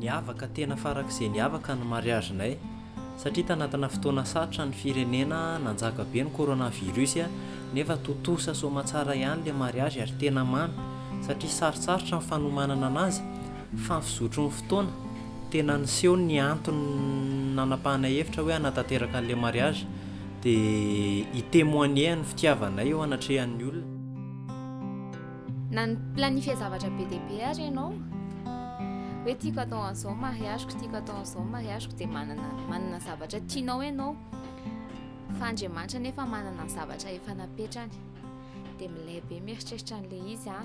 Niavaka tena farak'izay niavaka ny mariazinay satria tanatina fotoana sarotra ny firenena nanjaka be ny coronavirus nefa tontosa soamatsara ihany ilay mariazy ary tena mamy satria sarotsarotra ny fanomanana anazy fa ny fizotry ny fotoana tena niseho ny antony nanapahana hevitra hoe hanatanteraka an'ilay mariazy Dia hi-temoigner ny fitiavanay eo anatrehan'ny olona. Nani-planifier zavatra be dia be ary ianao. Hoe tiako atao an'izao ny mariage-ko, tiako atao an'izao ny mariage-ko. Dia manana, manana zavatra tianao ianao. Fa Andriamanitra anefa manana ny zavatra efa napetrany. Dia milay be mieritreritra an'ilay izy aho.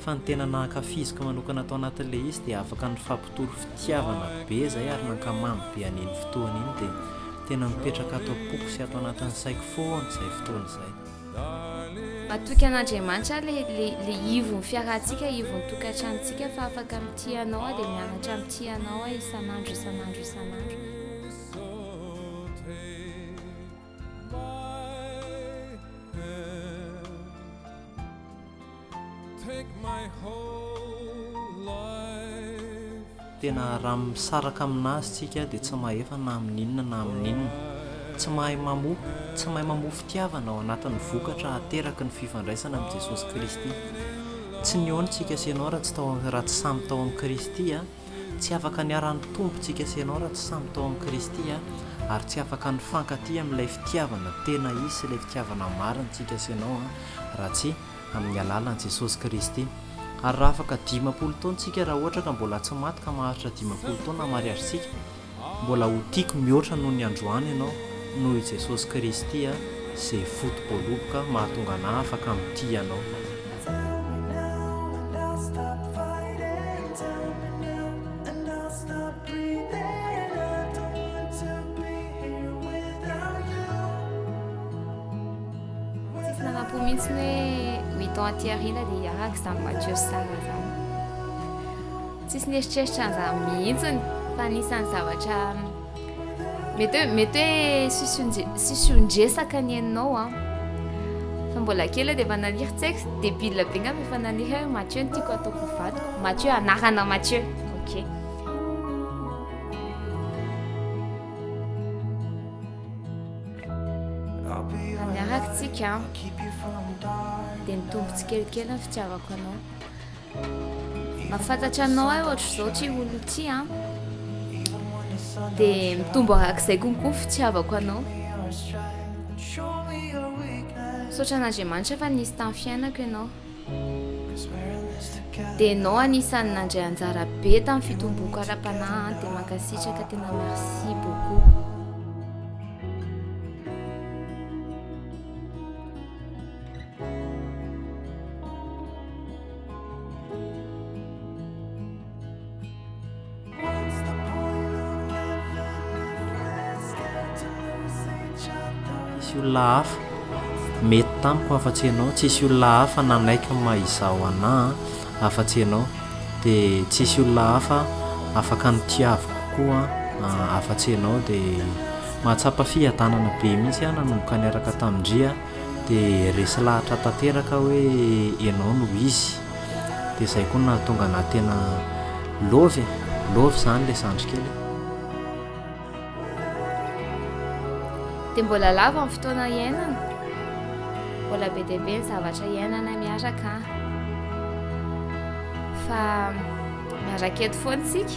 Fa ny tena nahankafiziko manokana tao anatin'ilay izy dia afaka nifampitory fitiavana be izay ary nankamamy be an'iny fotoana iny dia tena mipetraka ato am-poko sy ato anatin'ny saiko foana izay fotoana izay. Matoky an'Andriamanitra aho le le ivon'ny fiarahantsika ivon'ny tokantranontsika fa afaka mitia anao aho dia mianatra mitia anao aho isan'andro isan'andro isan'andro. Tena raha misaraka amin'Azy tsika dia tsy mahefa na amin'ny inona na amin'ny inona. Tsy mahay mamoa, tsy mahay mamoa fitiavana ao anatin'ny vokatra ateraky ny fifandraisana amin'i Jesosy Kristy. Tsy nihaona tsika sy ianao raha tsy samy tao amin'i Kristy. Tsy afaka niharan'ny Mptompo tsika sy ianao raha tsy samy tao amin'i Kristy an! Ary tsy afaka nifankatia amin'ilay fitiavana tena izy sy ilay fitiavana marina tsika sy ianao an! raha tsy amin'ny alalan'i Jesosy Kristy. Ary raha afaka dimampolo taona tsika raha ohatra ka mbola tsy maty ka maharitra dimampolo taona mariazy tsika, Mbola ho tiako mihoatra noho ny androany ianao noho i Jesosy Kristy a Zay foto-boaloboka mahatonga anah afaka mitia anao. Tell me now and I'll stop fighting Tell me now and I'll stop breathing I don't want to be here without you Tsisy nanampo mihitsy ny hoe huit ans aty aoriana dia hiaraka izany voiture star izany. Tsisy nieritreritra an'izany mihitsiny fa anisan'ny zavatra mety hoe mety hoe sision-dresaka ny enao an fa mbola kely dia efa naniry tsex dia bila be ngam efa naniry hoe Mathieu ny tiako ataoko vadiko Mathieu anarana Mathieu ok miaraka tsika dia nitombo tsikelikely ny fitiavako anao Mahafantatra anao ahy ohatr'izao ity olona ity an. Dia mitombo arak'izay konko ny fitiavako anao. Misaotra an'Andriamanitra fa nisy tamin'ny fiainako ianao. Dia ianao anisan'ny nandray anjara be tamin'ny fitomboako ara-panahy an. Dia mankasitraka tena merci beaucoup. Tsisy olona hafa mety tamiko afa-tsy ianao, tsisy olona hafa nanaiky ny maha izaho anah afa-tsy ianao, dia tsisy olona hafa afaka nitiaviko koa afa-tsy ianao, dia mahatsapa fiadanana be mihitsy aho nanomboka niaraka tamin-dry a. dia resy lahatra tanteraka hoe ianao no izy dia izay koa nahatonga na tena love e love izany ilay zandry kely dia mbola lava ny fotoana iainana mbola be dia be ny zavatra iainana miaraka fa miaraka eto foana isika